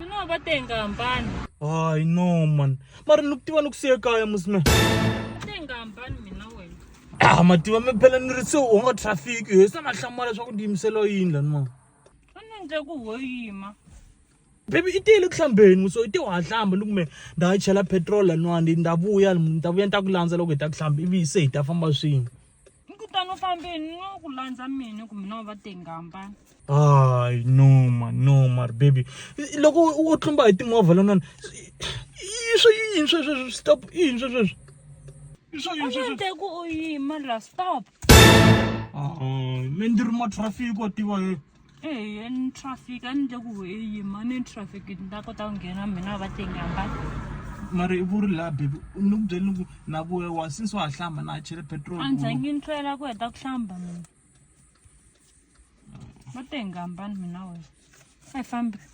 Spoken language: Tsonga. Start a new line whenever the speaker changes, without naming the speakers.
Ni nga va tenga hambani. Hayi no man. Mara ni ku tiva ni ku siya kaya musme. Tenga hambani mina wena. Ah mativa mi phela ni ri se u nga traffic yo se na hlamala leswaku ndi yimisela yini lani mama. A ni endle ku ho yima. Baby i tiyele ku hlambeni muso i te wa hlamba ni ku me nda ha chela petrol laniwani nda vuya ni ta vuya ni ta ku landza loko hi ta ku hlamba ivi se hi ta famba swin'we. ni kutani u fambeni no ku landza mina kumbe na va tengamba hayi noma noma ri baby loko u tlumba hi timovha lonani swi yini swesweswi stop i yini swesweswi swo yini swesweswi ende ku u yima la stop me ndi ri matrafiki wa tiva yini ehe ni traffic a ni le ku he yima ni traffic ni ta kota ku nghena mina va tengamba mara i vuri laha bebi ni ku byeli ni ku na ku wa since wa ha hlamba na ha chele petrol a ni zangi ni hlwela ku heta ku hlamba mina va tengambani mina wena a hi fambi